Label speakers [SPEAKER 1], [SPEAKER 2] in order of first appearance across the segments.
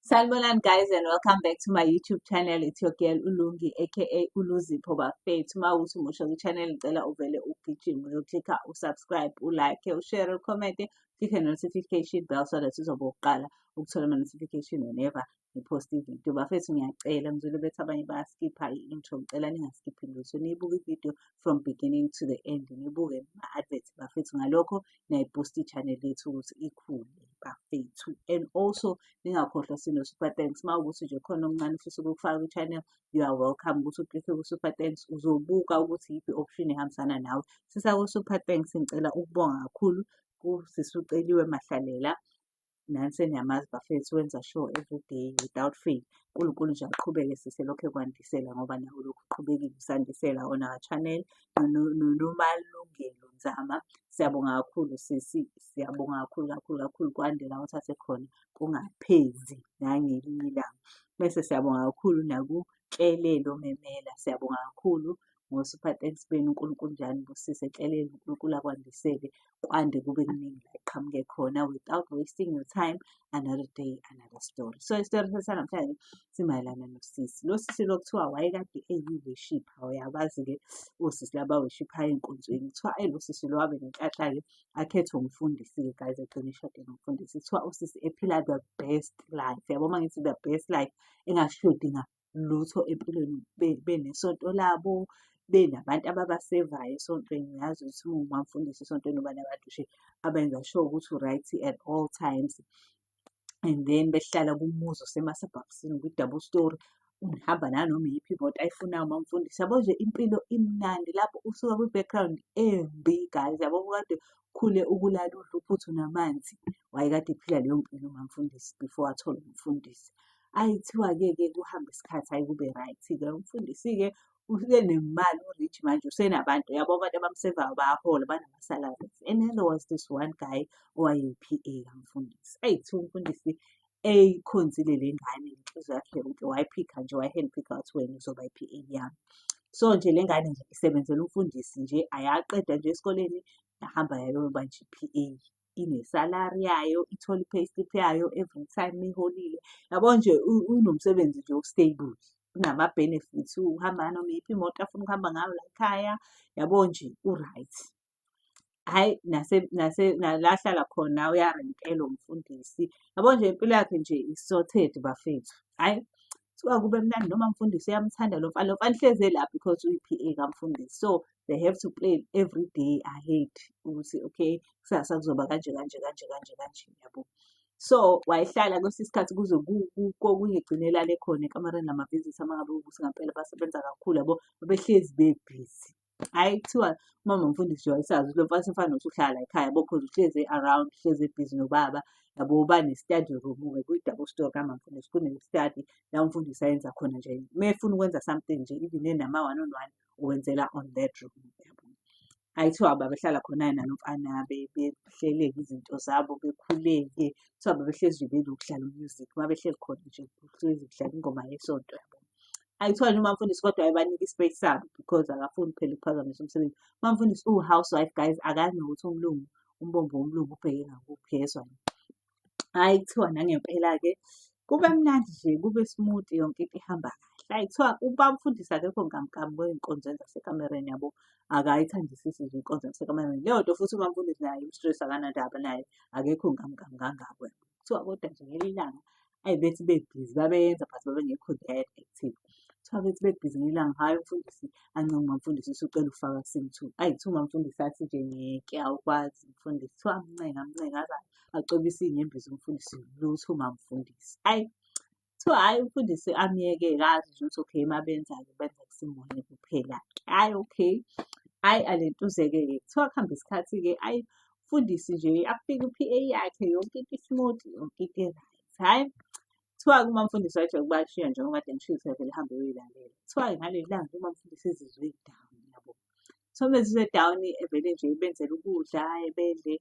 [SPEAKER 1] Sanibonani guys and welcome back to my YouTube channel. It's your girl Ulungi aka Uluzipho bafethu. Uma uthi umusha kwi-channel ngicela uvele ugijime uyoklikha usubscribe, ulike, ushare, ucommente, click notification bell so that uzoba uqala ukuthola ama-notification whenever ngipost ividiyo. Bafethu ngiyacela ngizwile bethi abanye bayaskipha i-intro ngicela ningaskiphi lutho. Niyibuke ividiyo from beginning to the end. Nibuke ma-advert bafethu ngalokho nayibhusta i-channel yethu ukuthi ikhule bafethu and also ningakhohlwa sino-super thanks uma ukuthi nje khona okuncane ufisa ukufaka kwi-channel you are welcome ukuthi uklikhe ku-super thanks uzobuka ukuthi yiphi option ehambisana nawe sisako-super thanks ngicela ukubonga kakhulu kusisuceliwe mahlalela nansi eniyamazi bafethu wenza show everyday without fail unkulunkulu nje aqhubeke sise lokhu ekwandisela ngoba nawo lokhu uqhubekile usandisela on our channel nomalungelo nzama siyabonga kakhulu sisi siyabonga kakhulu kakhulu kakhulu kwande la uthathe khona kungaphezi nangelinye ilanga bese siyabonga kakhulu naku Nhlelelo Memela. Siyabonga kakhulu ngo super thanks benu uNkulunkulu nje anibusise ehleleni uNkulunkulu akwandisele kwande kube kuningi la iqhamuke khona without wasting your time another day another story so isitori sanamhlanje simayelana nosisi lo sisi lo kuthiwa wayekade eyiwishipha uyabazi-ke osisi laba wishiphayo ey'nkonzweni kuthiwa ayi lo sisi lo wabe nenhlanhla-ke akhethwe umfundisi-ke guys egcine ishade nomfundisi kuthiwa usisi ephila the best life yabo uma ngithi the best life engashodi ngalutho empilweni benesonto labo benabantu ababasevayo esontweni yazi ukuthi uma umfundisi esontweni uba nabantu nje abenza sure ukuthi u-right at all times and then behlala kumuzi osemasabhabhisini kwi-double story ungihamba nanoma iyiphi imoto ayifunayo uma umfundisi yabo nje impilo imnandi lapho usuka kwi-background embi guys yabo kade khule ukulala udla uphuthu namanzi wayekade ephila leyo mpilo umamfundisi before athole umfundisi ayithiwa-ke ke kuhambe isikhathi ayi kube right-ke umfundisi-ke usenemali u-rich manje usenabantu yabo abantu abamsevayo bayahola banama-salaries and then there was this one guy owaye-PA kamfundisi ayi kuthiwa umfundisi eyikhonzile le ngane inhliziyo yakhe yonke wayiphikha nje wayi-handphikha wathi wena uzoba i-PA yami so nje le ngane nje isebenzela umfundisi nje ayaqeda nje esikoleni yahamba yayoba nje i-PA inesalari yayo ithole i-payslip yayo every time iholile yabo nje unomsebenzi nje o-stable unama-benefits uhamba noma iyiphi imoto afuna ukuhamba ngayo la ekhaya yabo nje u-right hhayi nase nase nala ahlala khona uyarentela umfundisi yabo nje impilo yakhe nje i-sorted bafethu hhayi kuthiwa kube mnandi noma mfundisi uyamthanda lo mfana lo mfana uhlezi la because uyi-PA kamfundisi so they have to play every day i hate ukuthi okay kusasa kuzoba kanje kanje kanje kanje kanje yabo so wayehlala kwesinye isikhathi kuze kokuyigcinela le khona ekamareni lamavisita uma ngabe ukuthi ngampela basebenza kakhulu yabo babehlezi bebhizi hhayi kuthiwa umama mfundisi nje wayesazi ukuthi lo mfana sefana nokuthi uhlala la ekhaya yabo cause uhlezi e-around uhlezi ebhizi nobaba yabo bane-study room-ke kwi-double story kamama mfundisi kune-study la umfundisi ayenza khona nje uma efuna ukwenza something nje even enama-one on one uwenzela on that room yabo hhayi kuthiwa babehlala khona-ke nalo mfana behleleke izinto zabo bekhuleke kuthiwa babehlezi nje benokuhlala umusic uma behleli khona nje kuhlezi kudlala ingoma yesonto yabo ayithole noma mfundisi kodwa ayibanike ispace sabo because akafuni phela ukuphazamisa umsebenzi uma mfundisi uwu-housewife guys akazi nokuthi umlungu umbombo womlungu ubheke ngakuphi yezwa hhayi kuthiwa nangempela-ke kube mnandi nje kube smooth yonke into ihamba kahle hhayi kuthiwa uba mfundisi akekho nkamkami kwey'nkonzweni zasekamereni yabo akayithandisisi nje inkonzo yasekamereni leyo nto futhi uma mfundisi naye imstress akanandaba naye akekho nkamkami kangako kuthiwa kodwa nje ngelinye ilanga ayi bethi bebhizi babeyenza but babengekho there active kuthiwa bethi bebhizi ngelanga hhayi umfundisi anca ungamfundisi usucela ukufaka sim two ayi kuthiwa umamfundisi athi nje ngeke awukwazi umfundisi kuthiwa amncenga amncenga aza acobisa iy'nyembezi umfundisi lutho umamfundisi ayi kuthiwa hhayi umfundisi amyeke kazi nje ukuthi okay uma benza-ke benza kusimunye kuphela-ke hhayi okay hhayi alentuzeke-ke kuthiwa kuhambe isikhathi-ke ayi mfundisi nje afike u-PA yakhe yonke into ismooth yonke into right hhayi kuthiwa uma mfundisi wajike ukuba ashiya njengoba kade ngishilo sevele hambe uyoyilalela kuthiwa ngaleli langa uma mfundisi ezizwe down yabo so bezizwe down evele nje benzela ukudla ebedle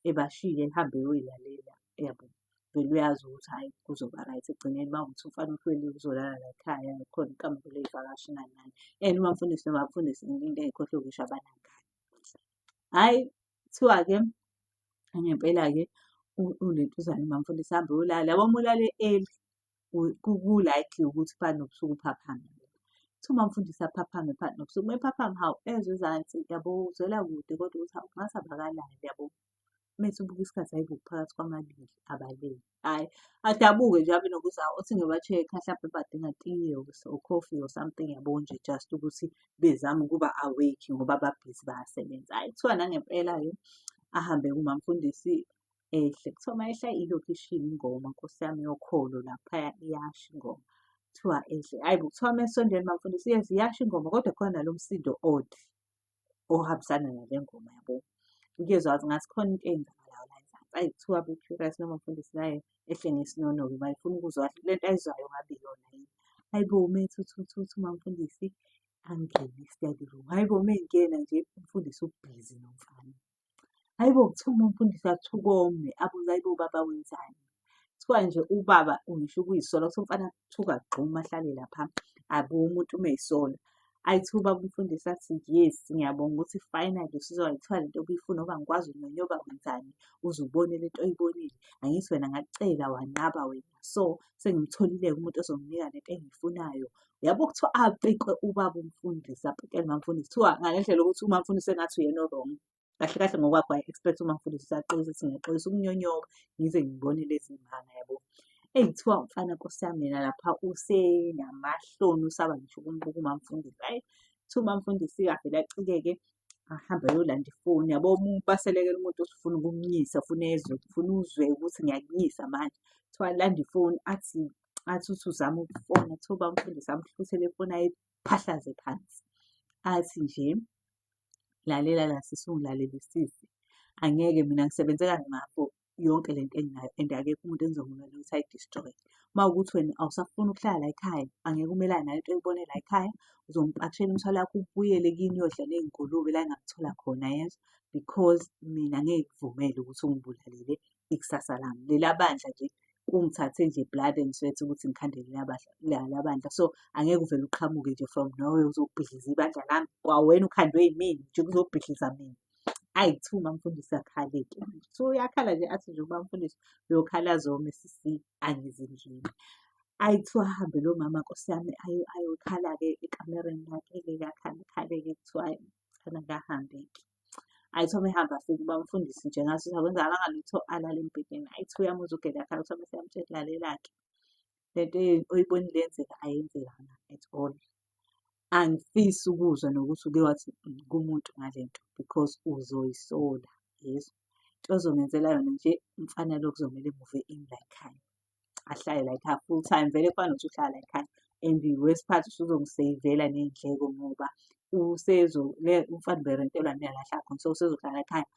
[SPEAKER 1] ebashiye ehambe eyoyilalela yabo vele uyazi ukuthi hhayi kuzoba right ekugcineni uma ukuthi umfana uhlweli uzolala la ekhaya khona ikamelo ley'vakashi nani nani and uma mfundisi noma mfundisi into engikhohlwe ukusho abanangane Hhayi kuthiwa-ke ngempela-ke unentuzane mamfundisi hambe uyolala yabo uma ulale early ku-likely ukuthi phakathi nobusuku uphaphame. Kuthiwa umamfundisi aphaphame phakathi nobusuku uma ephaphama hawu ezwe ezansi yabo uzwela kude kodwa ukuthi hawu ngathi abakalali yabo. mese ubuka isikhathi hayi kuphakathi kwamabili abalele hayi adabuke nje abe nokuza othi ngibatsheke hlampe badinga tiye or coffee or something yabo nje just ukuthi bezame ukuba awake ngoba babhizi bayasebenza hayi kuthiwa nangempela-ke ahambe kumamfundisi ehle kuthiwa uma ehla ilokhu ishiya ingoma nkosi yami yokholo laphaya iyasha ingoma kuthiwa ehle hhayi bo kuthiwa uma esondela umamfundisi yes iyasho ingoma kodwa khona nalo msindo odd ohambisana nale ngoma yabo ukuyezwa wathi ngathi khona into eyenzakalayo la ezansi ayi kuthiwa be-curious noma mfundisi naye ehle ngesinono-ke bayifuna ukuzwa le nto ayizwayo ngabe yona yini hayi bo ume thuthuthuthi uma mfundisi angene i-study room hayi bo uma engena nje umfundisi ubhizi nomfana Hhayi bo, kuthiwa uma umfundisi athi ukome abuze hhayi bo baba wenzani? Kuthiwa nje ubaba ngisho ukuyisola ukuthi umfana kuthiwa agxume ahlale lapha abuke umuntu uma eyisola. Ayi kuthiwa ubaba umfundisi athi yes ngiyabonga ukuthi finally usizwa kuthiwa le nto obuyifuna ngoba ngikwazi unyonyoba wenzani uze ubone le nto oyibonile. Angithi wena ngakucela wanqaba wena. so sengimtholile-ke umuntu ozonginika lento engiyifunayo yabo kuthiwa apikwe ubaba umfundisi apikele mamfundisi kuthiwa ngale ndlela ukuthi umamfundisi engathi uyena orong kahle kahle ngokwakho waye expect umamfundisi usaqolisa ukuthi ngiyaxolisa ukunyonyoka ngize ngibone lezi mbanga yabo eyi kuthiwa mfana nkosi yami yena lapha usenamahloni usaba ngisho ukumbuka umamfundisi ayi kuthiwa umamfundisi-ke avele acikeke ahambe ayolanda ifoni yabo umuntu baselekela umuntu osifuna ukumnyisa funa ezwe funa uzwe ukuthi ngiyakunyisa manje kuthiwa landa ifoni athi athi uthi uzama ukufona kuthiwa bamfundisa amhluthele ifoni ayiphahlaze phansi athi nje lalela la sisi ungilalele sisi angeke mina ngisebenze kanzima for yonke le nto enginayo and akekho umuntu engizomumela ukuthi ayi-destroy. Uma kuwukuthi wena awusafuni ukuhlala la ekhaya, angeke umelane nale nto oyibone la ekhaya, uzompakishela imithwalo yakho ubuyele kini uyodlala iy'ngulube la engamthola khona yezwa because mina ngeke ngikuvumele ukuthi ungibulalele ikusasa lami. Lela bandla nje kungithathe nje blood and sweat ukuthi ngikhandele lala bandla so angeke uvele uqhamuke nje from nowhere uzobhidliza ibandla lami kwawena ukhandwe yimina nje kuzobhidliza mina ayi kuthiwa umamfundisi akhaleke so uyakhala nje athi nje umamfundisi uyokhala zome sisi angizindlini ayi kuthiwa ahambe lo mama nkosi yami ayokhala-ke ekamereni lakhe-ke kakhale khale-ke kuthiwa khona kahambe-ke ayi kuthiwa mehamba afike ubamfundisi nje ngaso sakwenza alangalutho alale embhedeni ayi kuthiwa uyamuzwa ugele akhala kuthiwa mese yamtshela lalela-ke lento oyibonile yenzeka ayenzekanga at all angifisi ukuzwa nokuthi uke wathi kumuntu ngale nto because uzoyisola yeso into ozongenzela yona nje mfana lo kuzomele muve in la ekhaya ahlale la ekhaya full time vele kufana nokuthi uhlala la ekhaya and wesiphathi usuzongiseyivela ney'ndleko ngoba umfana uberentelwa niyalahla khona so usezohlala ekhaya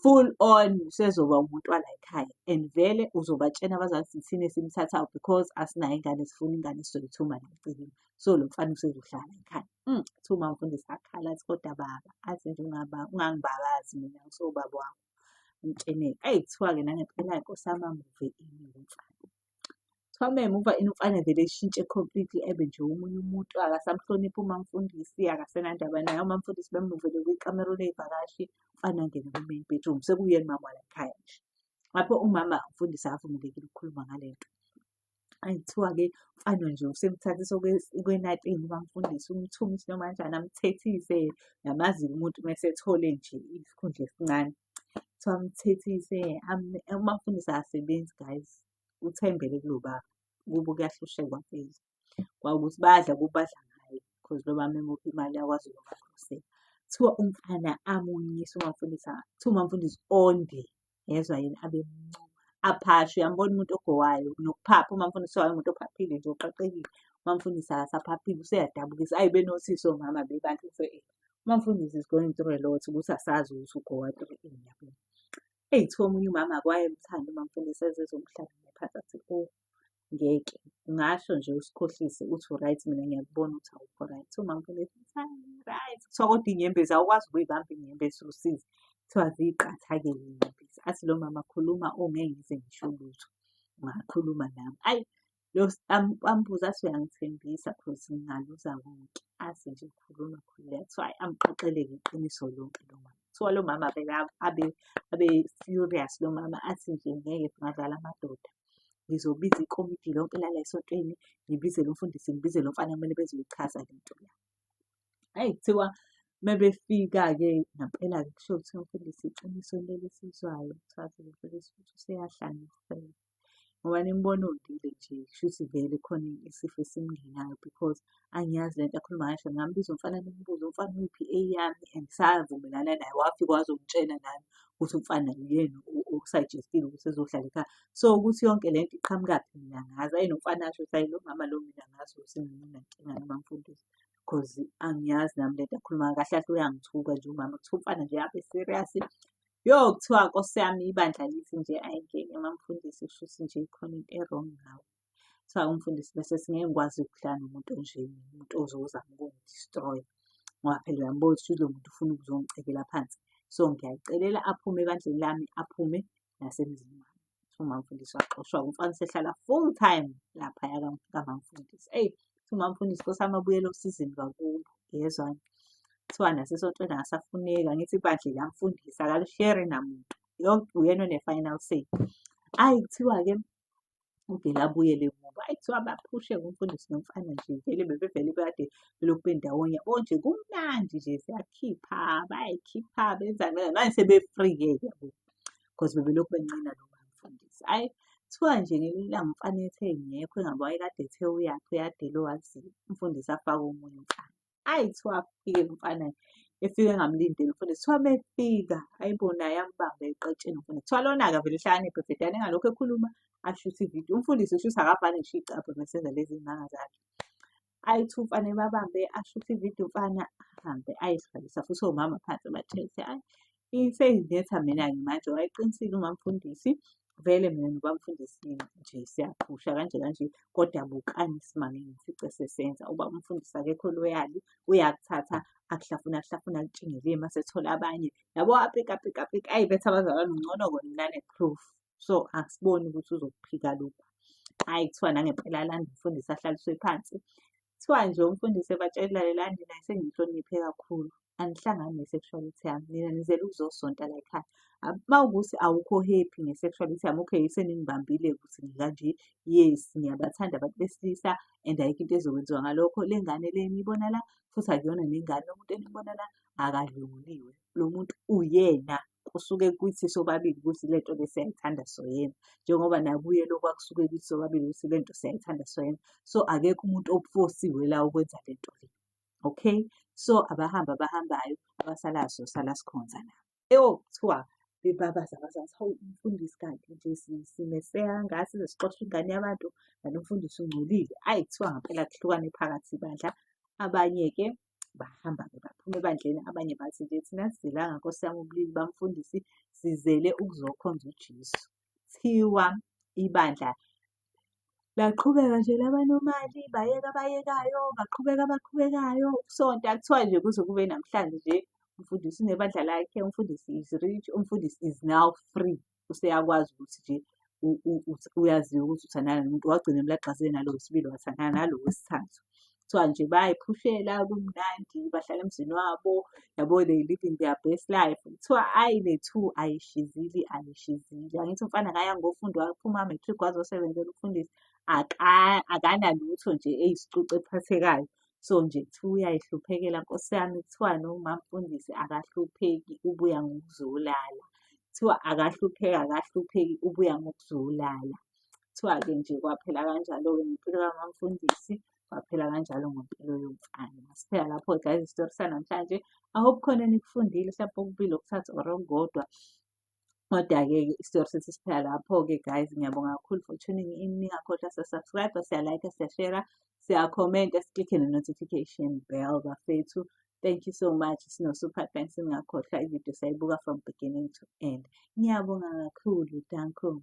[SPEAKER 1] full on sezoba umntwana ekhaya and vele uzobatshena abazali ukuthi thina esimthathayo because asinayo ingane sifuna ingane sizoyithuma nemcimbi so lo mfana usezohlala ekhaya um mm, thuma mfundisi akhala athi kodwa baba athi nje ungangibabazi mina ngisowubaba wakho mtsheneke ayi kuthiwa-ke nangempela-ke nkosi yami amuve ini lo mfana Kuthiwa uma emuva umfana evele eshintshe completely ebe nje omunye umuntu akasamhloniphi umamfundisi akasenandaba naye umamfundisi bemuvele kwikamero ley'vakashi umfana angene ku-main bedroom sekuyena umama walayikhaya nje. Lapho umama umfundisi akavumelekile ukukhuluma ngale nto. Ayi kuthiwa-ke umfana nje usemthathisa ukwenatini ubamfundisi umthume isinoma kanjani amthethise, uyamazi-ke umuntu uma esethole nje isikhundla esincane. kuthiwa amthethise amafundisi asebenzi guys uthembele kulo baba kubo kuyahlushekwa phela kwawukuthi badla kubadla ngaye because lo mama emuphi imali yakwazi ukubakhosela kuthiwa umfana amunyisa umamfundisi kuthiwa umamfundisi onde yezwa yini abe mncuma aphashe uyambona umuntu ogowayo nokuphapha umamfundisi wayo umuntu ophaphile nje oqaqekile umamfundisi akasaphaphile useyadabukisa ayi benosisi omama bebantu mfowethu Umamfundisi is going through a lot ukuthi asazi ukuthi ugowa through ini yabo. Eyi kuthiwa omunye umama akwayemthanda umamfundisi ezizomhlala phansi athi o oh, ngeke ngasho nje usikhohlise uthi u-right mina ngiyakubona ukuthi awukho right so mamfundisi right kuthiwa kodwa inyembezi awukwazi ukuyibamba inyembezi usizi kuthiwa ziyiqatha-ke inyembezi athi lo mama khuluma ongeke ngize ngisho lutho ungakhuluma nami ayi ambuza athi uyangithembisa cause ngingaluza konke azi nje khuluma khululeka kuthiwa ayi amqoqeleke iqiniso lonke lo mama kuthiwa lo mama abe abe furious lo mama athi nje ngeke ngadlala amadoda ngizobiza ikomiti lonke lala esontweni ngibize lo mfundisi ngibize lo mfana kumele bezoyichaza le nto la ayi kuthiwa mebefika-ke ngampela-ke kusho kuthiwa mfundisi iqiniso leli esizwayo kuthiwa mfundisi futhi useyahlanya impela ngoba nimbona odile nje shuthi vele khona isifo esimngenayo because angiyazi lento akhuluma ngayo shona ngambiza umfana nimbuze umfana uyiphi eyami and savumelana naye wafika wazongitshela nami ukuthi umfana yena okusajestile ukuthi ezohlala ekhaya so ukuthi yonke le nto iqhamukaphi mina ngazi ayi nomfana asho ukuthi ayi lo mama lo mina ngazi ukuthi nginenkinga noma mfundisi because angiyazi nami lento akhuluma kahle kahle uyangithuka nje umama kuthiwa umfana nje abe serious Yo kuthiwa Nkosi yami ibandla lithi nje ayingeke mamfundisi kushuthi nje ikhona into e-wrong ngawo. Kuthiwa umfundisi bese singeke ngikwazi ukuhlala nomuntu onje umuntu ozozama ukungi-destroy ngoba phela uyambona ukuthi lo muntu ufuna ukuzongicekela phansi. So ngiyacelela aphume ebandleni lami, aphume nasemzini wami. umamfundisi waxoshwa umfana usehlala full time laphaya kamamfundisi eyi umamfundisi kosami abuyele osizini kakulo yezwani kuthiwa nasesontweni akasafuneki angithi ibandla elamfundisi akalishere namuntu yonke uyena one-final say ayi kuthiwa-ke uvele abuyele kubo ayi kuthiwa baphushe ngumfundisi nomfana nje vele bebevele bekade belokhu bendawonye onje kumnandi nje siyakhipha bayayikhipha benza manje sebefree-ke ke because bebelokhu benqina lo mfundisi. Hhayi kuthiwa nje ngelinye ilanga umfana ethe ngekho engabe wayekade ethe uyaphi uyadela wathi umfundisi afake omunye umfana. Hhayi kuthiwa afike lo mfana efike engamlindeli umfundisi kuthiwa mefika ayibo naye ambambe eqetsheni umfundisi kuthiwa lona-ke avele ehlakaniphe bhedane engalokhu ekhuluma ashuthe ividiyo umfundisi ushuthe akavale ngisho iy'cabha mesenza lezi y'manga zakhe ayi two mfana ebabambe ashuthe ividiyo mfana ahambe ayihlalisa futhi omama phansi bathethe ayi iseyinetha mina-ke manje wayeqinisile umamfundisi vele mina nobamfundisi nje siyaphusha kanje kanje kodwa bukani isimame ngifice sesenza uba umfundisi akekho loyali uyakuthatha akuhlafuna akuhlafuna akutshingelile uma sethola abanye yabo apika apika apika ayi betha abazalwane ungcono kona nane-proof so akusiboni ukuthi uzokuphika lokhu hhayi kuthiwa nangempela landa umfundisi ahlaliswe phansi kuthiwa nje umfundisi ebatshela lalelani naye sengihloniphe kakhulu angihlangani ne-sexuality yami nina nizele ukuzosonta la ekhaya uma ukuthi awukho happy nge-sexuality yami okay seningibambile ukuthi ngikanje yes ngiyabathanda abantu besilisa and ayikho into ezokwenziwa ngalokho le ngane le eniyibona la futhi akuyona nengane umuntu enibona la akadlunguliwe lo muntu uyena kusuke kuthi sobabili ukuthi le nto le siyayithanda soyena njengoba nakuye lokhu akusuke kuthi sobabili ukuthi le nto siyayithanda soyena so akekho umuntu ofosiwe la ukwenza le nto le okay so abahamba abahambayo abasalayo sosala sikhonza nabo eyo kuthiwa bebabaza abazansi hawu umfundisi kanti nje simeseka ngathi sixosha ingane yabantu kanti umfundisi ungcolile ayi kuthiwa ngampela kuhlukane phakathi bandla abanye-ke bahamba-ke baphuma ebandleni abanye bathi nje thina sizelanga nkosi yami ubulili bamfundisi sizele ukuzokhonza ujesu thiwa ibandla laqhubeka nje labanomali bayeka abayekayo baqhubeka abaqhubekayo ukusonta kuthiwa nje kuze kube namhlanje nje umfundisi unebandla lakhe umfundisi is rich umfundisi is now free useyakwazi ukuthi nje uyaziwa ukuthi uthandana nomuntu wagcina emlagxazile nalo wesibili wathandana nalo wesithathu kuthiwa nje bayiphushela kumnandi bahlala emzini wabo yabo they living their best life kuthiwa ayi bethu ayishizile ayishizile angithi umfana kaya ngofundo waphuma matric wazosebenzela ukufundisa akanalutho nje eyisicucu ephathekayo so nje kuthiwa uyayihluphekela nkosi yami kuthiwani umamfundisi akahlupheki ubuya ngokuzolala kuthiwa akahlupheki akahlupheki ubuya ngokuzolala kuthiwa-ke nje kwaphela kanjalo-ke ngempilo kamamfundisi kwaphela kanjalo ngempilo yomfana masiphela lapho guys isitori sanamhlanje i hope khona enikufundile mhlawumpe okubili okuthathu or okukodwa Kodwa-ke isitori sethu siphela lapho-ke guys. Ngiyabonga kakhulu for tuning in. Ningakhohlwa siyasubscribe, siyalike, siyashera, siyakhomenta, siklikhe ne-notification bell bafethu. Thank you so much. Sino super thanks. Ningakhohlwa ivideo sayibuka from beginning to end. Ngiyabonga kakhulu. Danko.